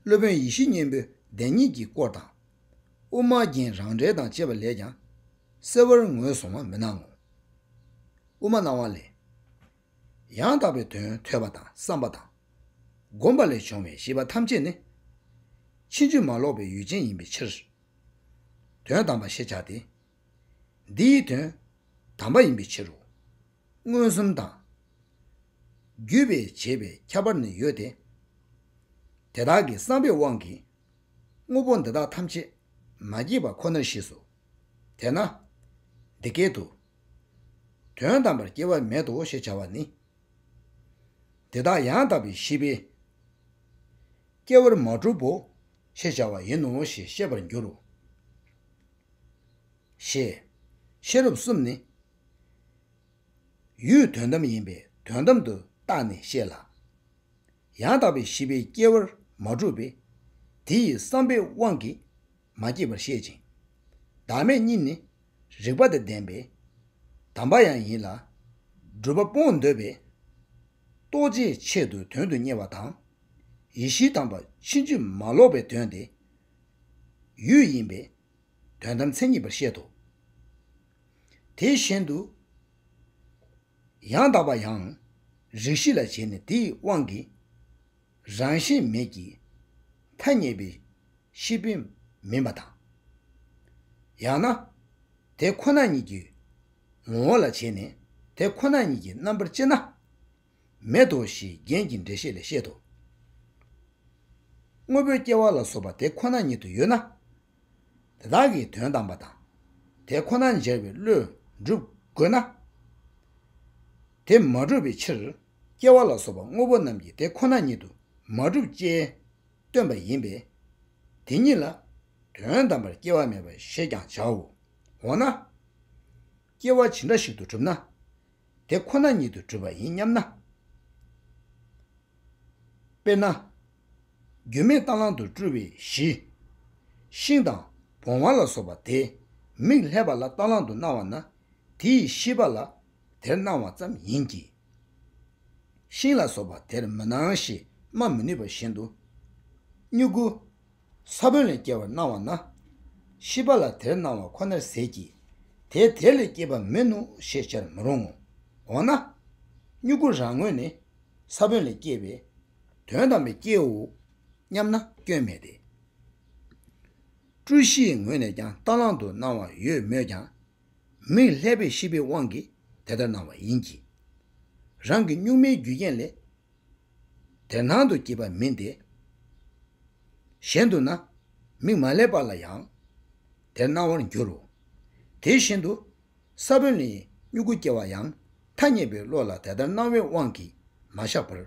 སློབ་དཔོན་ཡེ་ཤེས་སྙིང་པོའི་བདེན་གཉིས་ཀྱི་སྐོར་དང། དབུ་མ་རྒྱན་རང་འགྲེལ་དང་བཅས་པ་ལས་ཀྱང་གསལ་བར་ངོས་བཟུང་བ་མི་སྣང་ངོ། དབུ་མ་སྣང་བ་ལས། ཡང་དག་པའི་དོན་ཐོས་པ་དང་བསམ་པ་དང། བསྒོམ་པ་ལས་བྱུང་བའི་ཤེས་པ་ཐམས་ཅད་ནི། ཕྱིན་ཅི་མ་ལོག་པའི་ཡུལ་ཅན་ཡིན་པའི་ཕྱིར། དོན་དམ་པ་ཞེས་བྱ་སྟེ། འདི་ཡི་དོན་དམ་པ་ཡིན་པའི་ཕྱིར་རོ། མངོན་སུམ་དང། བརྒྱུད་པས་བྱེད་པའི་ཁྱད་པར་ནི་ཡོད་དེ། དེ་དག་གི་བསམ་པའི་དབང་གིས་དངོས་པོ་འདི་དག་ཐམས་ཅད་མ་སྐྱེས་པ་ཁོ་ནར་ཤེས་སོ། དེས་ན། འདི་སྐད་དུ། དོན་དམ་པར་སྐྱེ་བ་མེད་དོ་ཞེས་བྱ་བ་ནི། འདི་དག་ཡང་དག་པའི་ཤེས་པས་སྐྱེ་བར་མ་གྲུབ་བོ་ཞེས་བྱ་བ་ཡིན་ནོ་ཞེས་ཤེས་པར་འགྱུར་རོ། ཞེས། ཤེས་རབ་གསུམ་ནི། ཡུལ་དོན་དམ་ཡིན་པས་དོན་དམ་དུ་བརྟགས་ནས་ཤེས་ལ། ཡང་དག་པའི་ཤེས་པས་སྐྱེ་བར་མ་གྲུབ་པས། དེ་ཡི་བསམ་པའི་དབང་གིས་མ་སྐྱེས་པར་བཤད་ཅིང། བདག་མེད་གཉིས་ནི་རིག་པ་དང་ལྡན་པས་དམ་པ་ཡང་ཡིན་ལ། སྒྲུབ་པ་སྤོང་འདོད་པས། རྟོགས་བྱའི་ཆེད་དུ་དོན་དུ་གཉེར་བ་དང། ཡེ་ཤེས་དམ་པ་ཕྱིན་ཅི་མ་ལོག་པའི་དོན་ཏེ། ཡུལ་ཡིན་པས་དོན་དམ་མཚན་ཉིད་པར་བཤད་དོ། དེ་བཞིན་དུ། ཡང་དག་པ་ཡང་རིག་བཞི་ལ་བྱས་ནས་དེའི་དབང་གིས། རང་བཞིན་མེད་ཀྱི་ཐ་སྙད་པའི་ཤེས་དཔེ་མིན་པ་དང། ཡང་ན་དེ་ཁོ་ན་ཉིད་ཀྱི་ངོ་བོ་ལ་བྱས་ནས་དེ་ཁོ་ན་ཉིད་ཀྱི་རྣམ་པར་དཔྱད་ན་མེད་དོ་ཞེས་རྒྱན་གྱི་འགྲེལ་བཤད་ལས་བཤད་དོ། དངོས་པོའི་སྐྱེ་བ་ལ་སོགས་པ་དེ་ཁོ་ན་ཉིད་དུ་ཡོད་ན། དེ་དག་གི་དོན་དམ་པ་དང་དེ་ཁོ་ན་འཇལ་བའི་བློས་སྒྲུབ་དགོས་ན། དེ་མ་གྲུབ་པའི་ཕྱིར། སྐྱེ་བ་ལ་སོགས་པ་དངོས་པོ་རྣམས་ཀྱི་དེ་ཁོ་ན་ཉིད་དུ་མ་གྲུབ་ཅེས་སྟོན་པ་ཡིན་པས། དེ་ཉིད་ལ་དོན་དམ་པར་སྐྱེ་བ་མེད་པ་ཞེས་ཀྱང་བྱའོ། འོ་ན། སྐྱེ་བ་ཇི་འདྲ་ཞིག་ཏུ་གྲུབ་ན་དེ་ཁོ་ན་ཉིད་དུ་གྲུབ་པ་ཡིན་སྙམ་ན། དཔེར་ན། རྒྱུ་མེད་རྟ་གླང་དུ་སྤྲུལ་བའི་གཞི། ཤིང་དང་བོང་བ་ལ་སོགས་པ་དེས་མིག་ལྷད་པ་ལ་རྟ་གླང་དུ་སྣང་བ་ན་དེ་ཡི་ཤེས་པ་ལ་དེར་སྣང་བ་ཙམ་ཡིན་གྱི། ཤིང་ལ་སོགས་པ་དེར་མི་སྣང་ཞེས་སྨྲ་མི་ནུས་པ་བཞིན་དུ། སྨྱུ་གུ། ས་བོན་ལས་སྐྱེ་བར་སྣང་བ་ན། ཤི་བ་ལ་དེར་སྣང་བ་ཁོ་ནར་ཟད་ཀྱི། དེས་དེ་ལས་སྐྱེས་པ་མིན་ནོ་ཞེས་བྱར་མི་རུང་ངོ། འོ་ན། སྨྱུ་གུ་རང་ངོས་ནི་ས་བོན་ལས་སྐྱེས་པས་དོན་དམ་པའི་སྐྱེའོ་སྙམ་ན་སྐྱོན་མེད་དེ། སྤྲུལ་གཞིའི་ངོས་ནས་ཀྱང་རྟ་གླང་དུ་སྣང་བ་ཡོད་མོད་ཀྱང། མིག་ལྷད་པའི་ཤེས་པའི་དབང་གིས་དེ་ལྟར་སྣང་བ་ཡིན་གྱི། རང་གི་གཉུག་མའི་རྒྱུ་རྐྱེན་ལས་དེ་སྣང་དུ་སྐྱེས་པ་མིན་ཏེ། གཞན་དུ་ན་མིག་མ་ལྷད་པ་ལ་ཡང་དེ་སྣང་བར་འགྱུར་རོ། དེ་བཞིན་དུ་ས་བོན་ལས་སྨྱུ་གུ་སྐྱེ་བ་ཡང་ཐ་སྙད་པའི་བློ་ལ་དེ་ལྟར་སྣང་བའི་དབང་གིས་མ་བཞག་པར་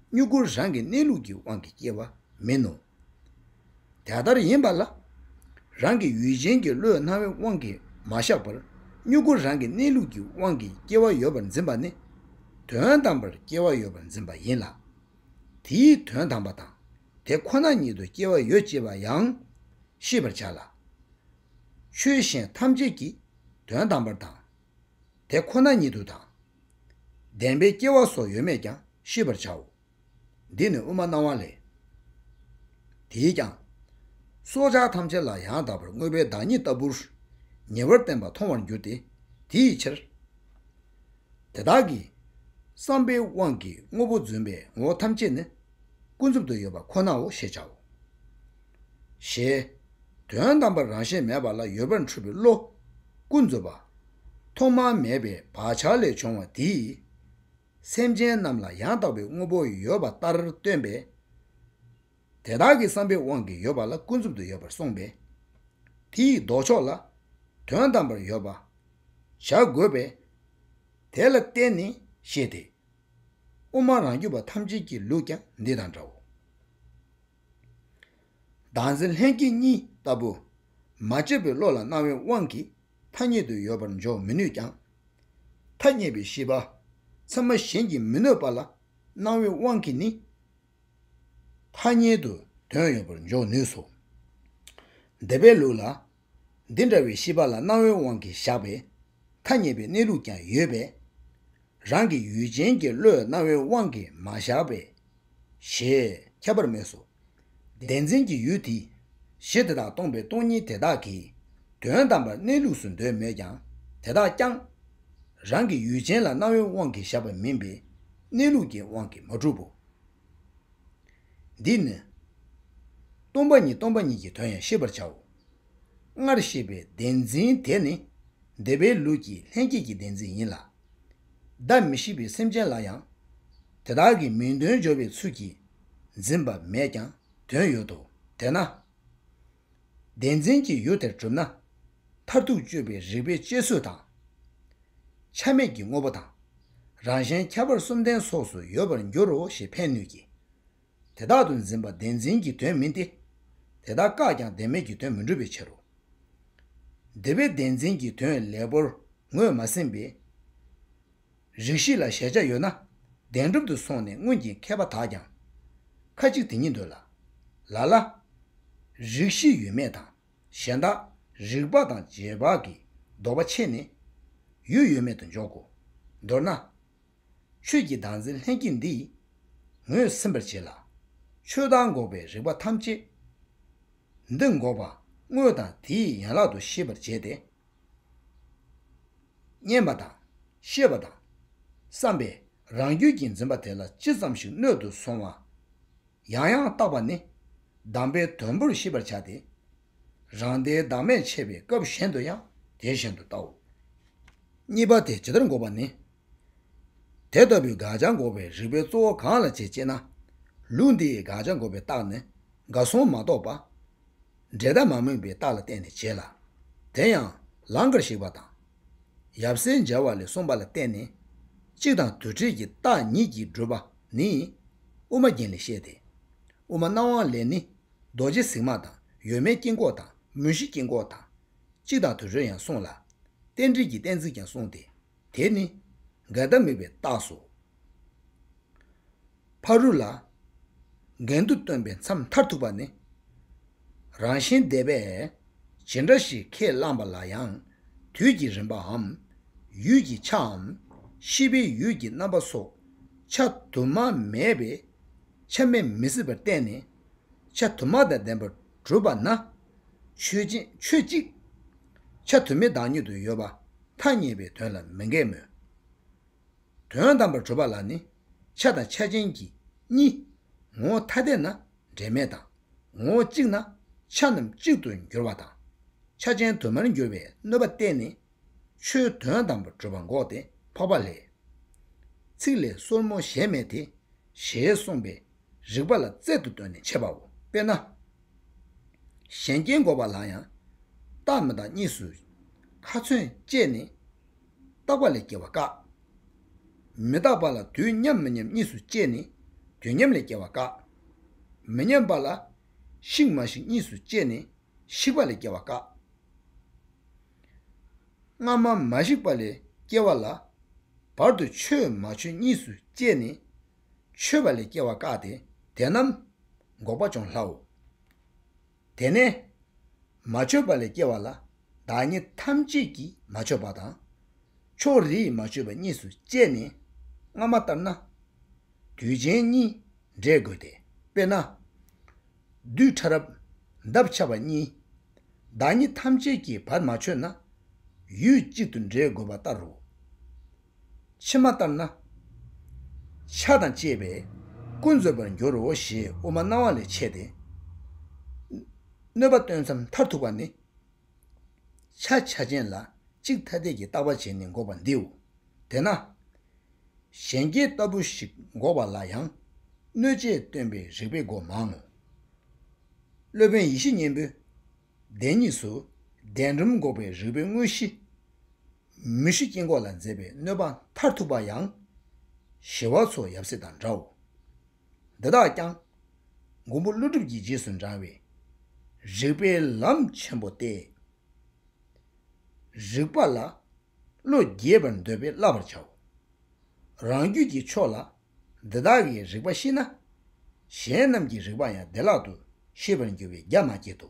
སྨྱུ་གུ་རང་གི་གནས་ལུགས་ཀྱི་དབང་གིས་སྐྱེ་བ་མིན་ནོ། དེ་ལྟར་ཡིན་པ་ལ། རང་གི་ཡུལ་ཅན་གྱི་བློའི་སྣང་བའི་དབང་གིས་མ་བཞག་པར་སྨྱུ་གུ་རང་གི་གནས་ལུགས་ཀྱི་དབང་གིས་སྐྱེ་བ་ཡོད་པར་འཛིན་པ་ནི། དོན་དམ་པར་སྐྱེ་བ་ཡོད་པར་འཛིན་པ་ཡིན་ལ། དེའི་དོན་དམ་པ་དང་དེ་ཁོ་ན་ཉིད་དུ་སྐྱེ་བ་ཡོད་ཅེས་པ་ཡང་ཤེས་པར་བྱ་ལ། ཆོས་གཞན་ཐམས་ཅད་ཀྱི་དོན་དམ་པར་དང། དེ་ཁོ་ན་ཉིད་དུ་དང། བདེན་པའི་སྐྱེ་བ་སོགས་ཡོད་མེད་ཀྱང་ཤེས་པར་བྱའོ། འདི་ནི་དབུ་མ་སྣང་བ་ལས། དེས་ཀྱང། སྲོག་ཆགས་ཐམས་ཅད་ལ་ཡང་དག་པར་དངོས་པོའི་བདག་ཉིད་ལྟ་བུར། ཉེ་བར་བསྟན་པ་མཐོང་བར་འགྱུར་ཏེ། དེ་ཡི་ཕྱིར། དེ་དག་གིས། བསམ་པའི་དབང་གིས་དངོས་པོ་བརྫུན་པའི་ངོ་བོ་ཐམས་ཅད་ནི། ཀུན་རྫོབ་ཏུ་ཡོད་པ་ཁོ་ནའོ་ཞེས་བྱའོ། ཞེས། དོན་དམ་པར་རང་བཞིན་མེད་པ་ལ་ཡོད་པར་འཁྲུལ་པའི་བློ། ཀུན་རྫོབ་པ། ཐོག་མ་མེད་པའི་བག་ཆགས་ལས་བྱུང་བ་དེའི། སེམས་ཅན་རྣམས་ལ་ཡང་དག་པའི་དངོས་པོ་ཡོད་པ་ལྟར་སྟོན་པས། དེ་དག་གི་བསམ་པའི་དབང་གིས་ཡོད་པ་ལ་ཀུན་རྫོབ་ཏུ་ཡོད་པར་གསུངས་པས། དེ་ཡི་ལྡོག་ཕྱོགས་ལ། དོན་དམ་པར་ཡོད་པར་བྱ་དགོས་པས། དེ་ལ་བརྟེན་ནས་བཤད་དེ། དབུ་མ་རང་རྒྱུད་པ་ཐམས་ཅད་ཀྱི་ལུགས་ཀྱང་འདི་དང་འདྲའོ། བདག་འཛིན་ལྷན་སྐྱེས་གཉིས་ལྟ་བུ། མ་དཔྱོད་པའི་བློ་ལ་སྣང་བའི་དབང་གིས་ཐ་སྙད་དུ་ཡོད་པར་འཇོག་མི་ནུས་ཀྱང། ཐ་སྙད་པའི་ཤེས་པ་ཚད་མ་གཞན་གྱིས་མི་གནོད་པ་ལ་སྣང་བའི་དབང་གིས་ནི་ཐ་སྙད་དུ་དོན་ཡོད་པར་འཇོག་ནུས་སོ། འདས་པའི་ལུགས་ལ་འདི་འདྲ་བའི་ཤེས་པ་ལ་སྣང་བའི་དབང་གིས་བཞག་པས། ཐ་སྙད་པའི་གནས་ལུགས་ཀྱང་ཡོད་པས། རང་གི་ཡུལ་ཅན་གྱི་བློས་སྣང་བའི་དབང་གིས་མ་བཞག་པས། ཞེས་ཁྱབ་པར་སྨོས་སོ། བདེན་འཛིན་གྱི་ཡུལ་དེ། གཞི་དེ་དག་སྟོང་པའི་སྟོང་ཉིད་དེ་དག་གིས། དོན་དམ་པར་གནས་ལུགས་སུ་འདོད་མོད་ཀྱང་དེ་དག་ཀྱང། རང་གི་ཡུལ་ཅན་ལ་སྣང་བའི་དབང་གིས་བཞག་པ་མིན་པས་གནས་ལུགས་ཀྱི་དབང་གིས་མ་གྲུབ་བོ། འདིས་ནི། སྟོང་པ་ཉིད་སྟོང་པ་ཉིད་ཀྱི་དོན་ཡང་ཤེས་པར་བྱའོ། སྔར་བཤད་པའི་བདེན་འཛིན་དེ་ནི་འདས་པའི་ལུགས་ཀྱི་ལྷན་སྐྱེས་ཀྱི་བདེན་འཛིན་ཡིན་ལ། བདག་མི་ཤེས་པའི་སེམས་ཅན་ལ་ཡང། དེ་དག་གི་མིང་དོན་སྦྱོར་བའི་ཚུལ་གྱིས་འཛིན་པ་མེད་ཀྱང་དོན་ཡོད་དོ། དེས་ན། བདེན་འཛིན་གྱི་ཡུལ་དེར་གྲུབ་ན། མཐར་ཐུག་སྤྱོད་པའི་རིགས་པའི་སྤྱད་ཚུལ་དང། ཆ་མེད་ཀྱི་དངོས་པོ་དང། རང་གཞན་ཁྱད་པར་གསུམ་ལྡན་སོགས་སུ་ཡོད་པར་འགྱུར་རོ་ཞེས་ཕན་ནུས་ཀྱི། དེ་དག་ཏུ་འཛིན་པ་བདེན་འཛིན་གྱི་དོན་མིན་ཏེ། དེ་དག་བཀག་ཀྱང་བདེན་མེད་ཀྱི་དོན་མི་འགྲུབ་པའི་ཕྱིར་རོ། འདི་པའི་བདེན་འཛིན་གྱི་དོན་ལེགས་པོར་ངོས་མ་ཟིན་པས། རིགས་བཞི་ལ་གཞལ་བྱ་ཡོད་ན། བདེན་གྲུབ་ཏུ་སོང་ནས་སྔོན་གྱི་མཁས་པ་དག་ཀྱང། ཁ་ཅིག་དེ་ཉིད་འདོད་ལ། ལ་ལ། རིགས་བཞི་ཡོད་མེད་དང་གཞན་དག། རིགས་དཔག་དང་རྗེས་དཔག་གིས་ལྡོག་པ་ཕྱེ་ནས། ཡུལ་ཡོད་མེད་དུ་འཇོག་གོ། མདོར་ན། ཆོས་ཀྱི་དང་ཚེ་ལྷན་སྐྱེས་འདིས། ངོས་ཟིན་པར་བྱེད་ལ། ཆོས་དང་འགོག་པའི་རིགས་པ་ཐམས་ཅད། འདི་འགོག་པ་དངོས་དང་དེའི་ཡན་ལག་ཏུ་ཤེས་པར་བྱས་ཏེ། བསྙེན་པ་དང། ཤེས་པ་དང། བསམ་པས་རང་རྒྱུད་ཀྱི་འཛིན་པ་དེ་ལ་ཅི་ཙམ་ཞིག་སྣོད་དུ་སོང་བ། ཡང་ཡང་བརྟག་པ་ནི། གདམས་པའི་དོན་པོར་ཤེས་པར་བྱ་སྟེ། རང་སྡེའི་བདག་མེད་འཆད་པའི་སྐབས་གཞན་དུ་ཡང་དེ་བཞིན་དུ་བལྟའོ། གཉིས་པ་དེ་ཇི་ལྟར་འགོག་པ་ནི། དེ་ལྟ་བུའི་དགག་བྱ་འགོག་པའི་རིགས་པའི་གཙོ་བོ་གང་ལ་བྱེད་ཅེ་ན། ལུགས་འདིའི་དགག་བྱ་འགོག་པའི་རྟགས་ནི་དགའ་གསུམ་མ་གཏོགས་པ། འབྲས་དག་མ་སྨོས་པའི་རྟགས་ལ་བརྟེན་ནས་བྱེད་ལ། དེ་ཡང་ལང་ཀར་གཞིག་པ་དང། ཡབ་སྲས་མཇལ་བ་ལས་གསུངས་པ་ལ་བརྟེན་ནས། གཅིག་དང་དུ་བྲལ་གྱི་རྟགས་ཉིད་ཀྱིས་བསྒྲུབ་པ་ནི། དབུ་མ་རྒྱན་ལས་བཤད་དེ། དབུ་མ་རྣམས་དབང་ལས་ནི། རྡོ་རྗེ་གཟིགས་མ་དང་ཡོད་མེད་དཀྱིལ་འཁོར་དང་མུ་བཞི་དཀྱིལ་འཁོར་དང། གཅིག་དང་དུ་བྲལ་ཡང་གསུངས་ལ། རྟེན་འབྲེལ་གྱི་གཏན་ཚིགས་ཀྱང་གསུངས་ཏེ། དེ་ནི་འགལ་ཟླ་མེད་པའི་རྟགས་སོ། ཕ་རོལ་ལ་འགལ་འདུ་སྟོན་པའི་མཚམས་མཐར་ཐུག་པ་ནི། རང་བཞིན་འདས་པས་ཇི་འདྲ་ཞིག་ཁས་བླངས་པ་ལ་ཡང་དུས་ཀྱི་རིམ་པའམ་ཡུལ་གྱི་ཆའམ་ཤེས་པའི་ཡུལ་གྱི་རྣམ་པ་སོགས་ཆ་དུ་མ་མེད་པས་ཆ་མེད་མི་སྲིད་པར་བསྟན་ནས་ཆ་དུ་མ་དང་ལྡན་པར་གྲུབ་པ་ན། ཆོས་ཅན་ཆོས་གཅིག། ཆ་དུ་མའི་བདག་ཉིད་དུ་ཡོད་པ་ཐ་སྙད་པའི་དོན་ལ་མི་འགལ་མོད། དོན་དམ་པར་གྲུབ་པ་ལ་ནི་ཆ་དང་ཆ་ཅན་གྱི་གཉིས། ངོ་བོ་ཐ་དད་ན་འབྲེལ་མེད་དང། ངོ་བོ་གཅིག་ན་ཆ་རྣམས་གཅིག་ཏུ་འགྱུར་བ་དང། ཆ་ཅན་དུ་མར་འགྱུར་བའི་གནོད་པ་བསྟན་ནས། ཆོས་དོན་དམ་པར་གྲུབ་པ་འགོག་སྟེ་འཕགས་པ་ལས། ཚིག་ལས་སོར་མོ་གཞན་མེད་དེ། ཞེས་གསུངས་པའི་རིགས་པ་ལ་རྩལ་དུ་བཏོན་ནས་འཆད་པའོ། དཔེར་ན། གཞན་སྐྱེ་འགོག་པ་ལ་ཡང། བརྟག་མི་བརྟག་གཉིས་སུ། ཁ་ཚོན་བཅད་ནས། བརྟག་པ་ལས་སྐྱེ་བ་བཀག། མི་རྟག་པ་ལ་དུས་མཉམ་མི་མཉམ་གཉིས་སུ་བཅད་ནས་དུས་མཉམ་ལས་སྐྱེ་བ་བཀག། མི་མཉམ་པ་ལ། ཞིག་མ་ཞིག་གཉིས་སུ་བཅད་ནས་ཞིག་པ་ལས་སྐྱེ་བ་བཀག། སྔ་མ་མ་ཞིག་པ་ལས་སྐྱེ་བ་ལ། བར་དུ་ཆོད་མ་ཆོད་གཉིས་སུ་བཅད་ནས་མཆོད་པ་ལས་སྐྱེ་བ་བཀག་སྟེ་དེ་རྣམས་འགོག་པ་ཅུང་སླའོ། དེ་ནས་མ་མཆོད་པ་ལས་སྐྱེ་བ་ལ་བདག་ཉིད་ཐམས་ཅད་ཀྱིས་མ་མཆོད་པ་དང། ཕྱོགས་རིས་མ་མཆོད་པ་གཉིས་སུ་བཅད་ནས་སྔ་མ་ལྟར་ན། དུས་ཆེན་གཉིས་འབྲས་དགོས་ཏེ་དཔེར་ན། རྡུལ་ཕྲ་རབ་འདབ་ཆགས་པ་གཉིས། བདག་ཉིད་ཐམས་ཅད་ཀྱིས་བར་མ་མཆོད་ན། ཡུལ་གཅིག་ཏུ་འབྲས་དགོས་པ་ལྟར་རོ། ཕྱི་མ་ལྟར་ན། ཆགས་དང་བཅས་པས་ཀུན་རྫོབ་པར་འགྱུར་རོ་ཞེས་དབུ་མ་སྣང་བ་ལས་འཆད་དེ། གནོད་པ་སྟོན་མཚམས་མཐར་ཐུག་པ་ནི། ཆ་ཆ་ཅན་ལ་གཅིག་ཐ་དད་ཀྱི་བརྟག་པ་བྱས་ནས་འགོག་པ་འདིའོ། དེས་ན། གཞན་སྐྱེ་ལྟ་བུ་ཞིག་འགོག་པ་ལ་ཡང་གནོད་བྱེད་སྟོན་པའི་རིགས་པས་འགོག་མང་ངོ། སློབ་དཔོན་ཡེ་ཤེས་སྙིང་པོས་བདེན་གཉིས་སུ། བདེན་གྲུབ་འགོག་པའི་རིག་པའི་དངོས་གཞི། མུ་བཞི་དཀྱིལ་འཁོར་ལ་མཛད་པའི་གནོད་པ་མཐར་ཐུག་པ་ཡང། ཞི་བ་ཚོགས་ཡབ་སྲས་དང་འདྲའོ། འདི་དག་ཀྱང། མགོན་པོ་ཀླུ་སྒྲུབ་ཀྱི་རྗེས་སུ་འབྲང་བའི། རིག་པའི་ལམ་ཆེན་པོ་སྟེ། རིག་པ་ལ། བློ་རྒྱས་པར་འདོད་པས་བསླབ་པར་བྱའོ། རང་རྒྱུད་ཀྱི་ཕྱོགས་ལ་འདི་དག་གི་རིགས་པ་ཤེས་ན། གཞན་རྣམས་ཀྱི་རིགས་པ་ཡང་བདེ་བླག་ཏུ་ཤེས་པར་འགྱུར་བས་རྒྱ་མ་སྐྱེད་དོ།